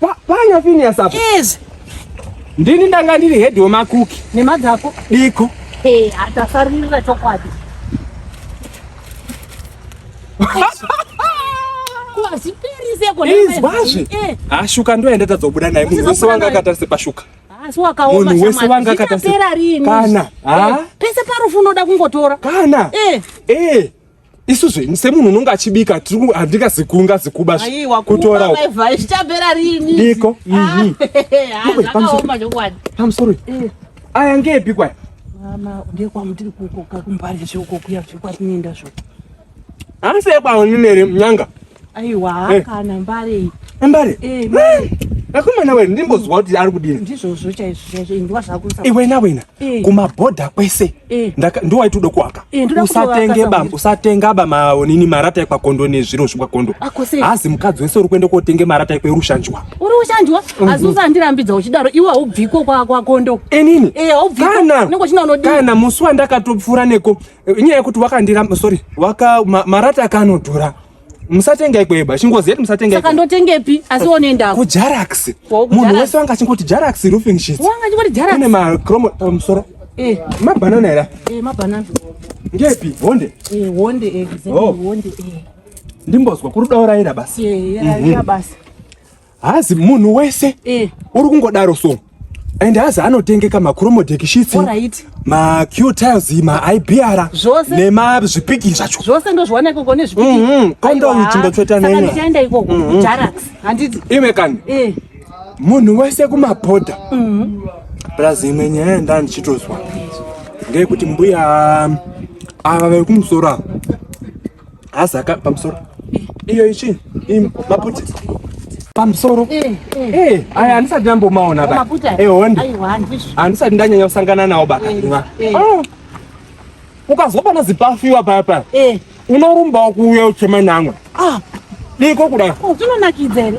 Panya Phineas apa. Yes. Ndini ndanga ndiri head wemakuki. Nemadzako. Diko. Hey, eh, atafarira chokwadi. izwazve eh. ashuka ndo yaenda tadzobuda naye munhu wese wanga akatarisa pashuka munhu wese wanga akatarisa kana eh, pese parufu unoda kungotora kana eh isu zve semunhu unonge achibika handingazi kunga zikuba kutora zvichapera rini iko mhm. ah, pamusoro eh. aya ngeepi kwaya mama ndekwamutiri kukoka kumbarizve uko kuya zvekwatinoenda zvo hansi ekwawo nyanga Aiwa hey. Eh. kana mbare iyi. Eh, mbare? Eh, mbare. Akomana eh, wewe ndimbozwa kuti ari kudini? Ndizvozvo chaizvo chaizvo ndwa zvakusa. Iwe na wena hey. kuma border kwese. Hey. Ndaka ndo waitudo kuaka. Hey, usatenge ba, usatenga ba maonini marata ekwa kondo nezviro zvekwa kondo. Hazi mukadzi wese uri kuenda kotenge marata ekwe rushanjwa. Uri ushanjwa? Mm -hmm. Azusa ndirambidza uchidaro iwe haubviko kwa kwa kondo. Enini? Eh, haubviko. Kana. Nongo china unodini? Kana musi wandakatopfura neko inyaya yekuti wakandira sorry waka ma, marata akanodhura musatenga ikweba chingozi yedu musatenga saka ndotengepi asi wonoenda ku Jarax munhu wese wanga chingoti Jarax roofing sheets wanga chingoti Jarax kune ma chromo pamusoro eh ma banana era eh ma banana ngepi honde eh honde eh honde eh ndimbozwa kuri daura ira basi eh ira mhm. basi hazi munhu wese eh. uri kungodaro so and hazi anotengeka macromodek sheets right. macu tiles maibr nemazvipiki zvacho zvose ndozviwana ikoko nezvipikikondoichindotsveta mm-hmm. nenyaenda ikoko mm-hmm. jarax handiti ime kani eh. munhu wese kumabhodha mm-hmm. plus imwe nyaya yandani chitozwa ngeyekuti mbuya ava vekumusoro ava Azaka pamusoro. Iyo ichi maputi. Pamusoro. Eh, eh. eh aya handisati ndambomaona ba. Eh hondi. Handisati ndanyanya kusangana nawo ba. Eh, eh. Oh. Ukazwa pana zipafiwa paya paya. Eh. Unorumba kuuya uchema namwe. Ah. Diko kuda. Oh, zvinonakidza here?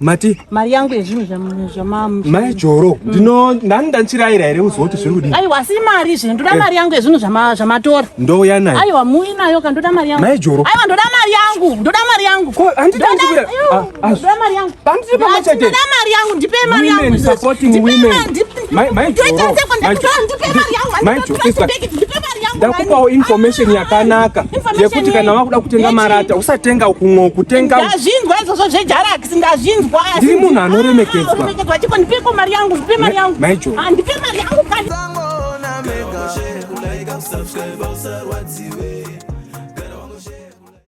mati mari yangu yezvinhu zvamama mai joro mm. ndino ndani ndanchiraira here uziva kuti zviri kudii aiwa asi mari izvi ndoda eh. mari yangu yezvinhu zvamatora ndouya nayo aiwa mui nayo ka ndoda mari yangu mai joro aiwa ndoda mari yangu ndoda mari yangu ko handiti ndikuira ah, ah. ndoda mari yangu handiti pamwe chete ndoda mari yangu ndipei mari yangu women supporting women ndakupawo information ah, yakanaka yekuti kana wakuda kutenga marata usatenga ukungo kutenga ndazvinzwa izvozvo zvejarax ndazvinzwa ndiri munhu anoremekedzwa ah,